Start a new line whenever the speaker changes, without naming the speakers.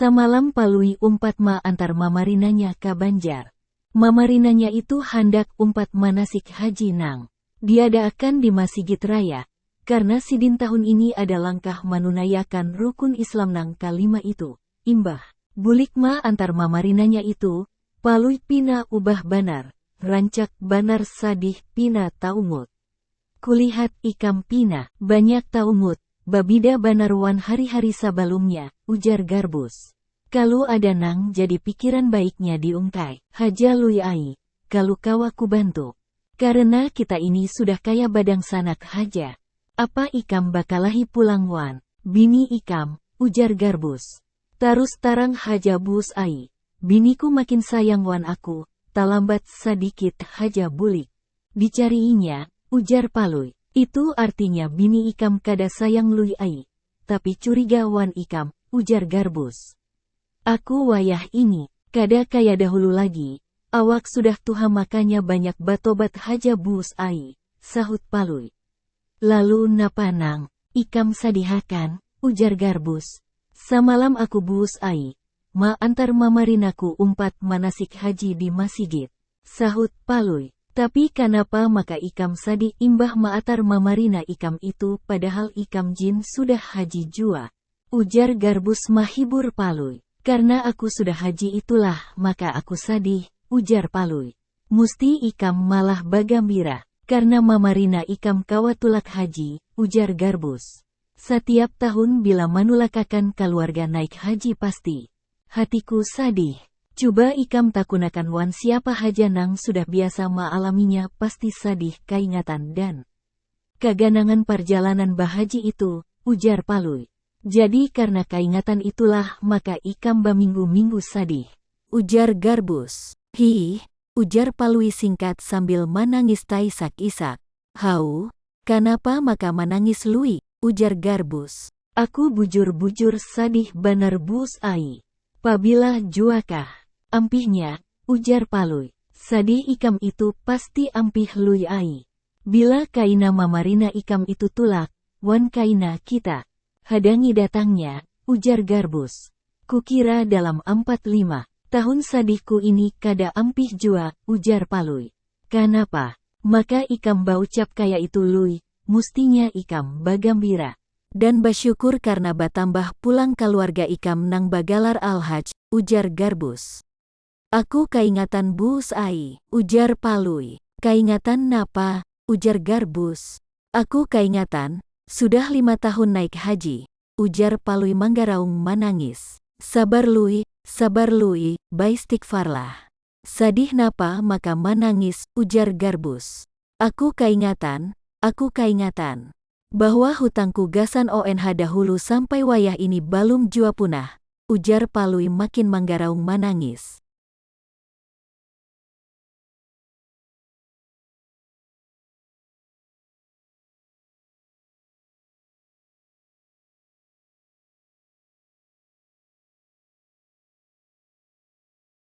Samalam Palui umpat ma antar mamarinanya ka Banjar. Mamarinanya itu handak umpat manasik haji nang diadaakan di Masigit Raya, karna sidin tahun ini ada langkah manunaiakan rukun Islam nang ka lima itu. Imbah bulik ma antar mamarinanya itu, Palui pina ubah banar, rancak banar sadih pina taungut. Kulihat ikam pina banyak tahu Mut, babida banar wan hari-hari sabalumnya, ujar Garbus. Kalu ada nang jadi pikiran baiknya diungkai haja Lui ai, kalu kawa kubantu. Karena kita ini sudah kaya badangsanak haja. Apa ikam bakalahi pulang wan bini ikam, ujar Garbus. Tarus tarang haja Bus ai, biniku makin sayang wan aku, talambat sadikit haja bulik. Dicariinya, ujar Palui. Itu artinya bini ikam kada sayang Lui ai. Tapi curiga wan ikam, ujar Garbus. Aku wayah ini, kada kaya dahulu lagi, awak sudah tuha makanya banyak batobat haja Bus ai, sahut Palui. Lalu napa nang. Ikam sadihakan? ujar Garbus. Samalam aku Bus ai, ma antar mamarinaku umpat manasik haji di masigit. Sahut Palui. Tapi kanapa maka ikam sadik imbah maatar mamarina ikam itu padahal ikam jin sudah haji jua? Ujar Garbus mahibur Palui. Karna aku sudah haji itulah maka aku sadih, ujar Palui. Musti ikam malah bagambira karna mamarina ikam kawa tulak haji, ujar Garbus. Satiap tahun bila manulakakan kaluarga naik haji pasti. Hatiku sadih. Cuba ikam takunakan wan siapa haja nang sudah biasa maalaminya pasti sadih kaingatan dan kaganangan parjalanan bahaji itu, ujar Palui. Jadi karna kaingatan itulah maka ikam baminggu-minggu sadih, ujar Garbus. Hiih, ujar Palui singkat sambil manangis taisak-isak. Hau, kanapa maka manangis Lui? ujar Garbus. Aku bujur-bujur sadih banar Bus ai. Pabila jua kah? Ampihnya, ujar Palui. Sadih ikam itu pasti ampih Lui ai. Bila kaina mamarina ikam itu tulak, wan kaina kita. Hadangi datangnya, ujar Garbus. Kukira dalam ampat lima. Tahun sadihku ini kada ampih jua, ujar Palui. Kanapa? Maka ikam baucap kaya itu Lui, mustinya ikam bagambira dan basyukur karna batambah pulang kaluarga ikam nang bagalar Al-Haj, ujar Garbus. Aku kaingatan Buus ai, ujar Palui. Kaingatan napa? ujar Garbus. Aku kaingatan, sudah lima tahun naik haji, ujar Palui manggaraung manangis. Sabar Lui, sabar Lui, baistighfarlah. Sadih napa maka manangis, ujar Garbus. Aku kaingatan, aku kaingatan. Bahwa hutangku gasan ONH dahulu sampai wayah ini balum jua punah, ujar Palui makin manggaraung manangis.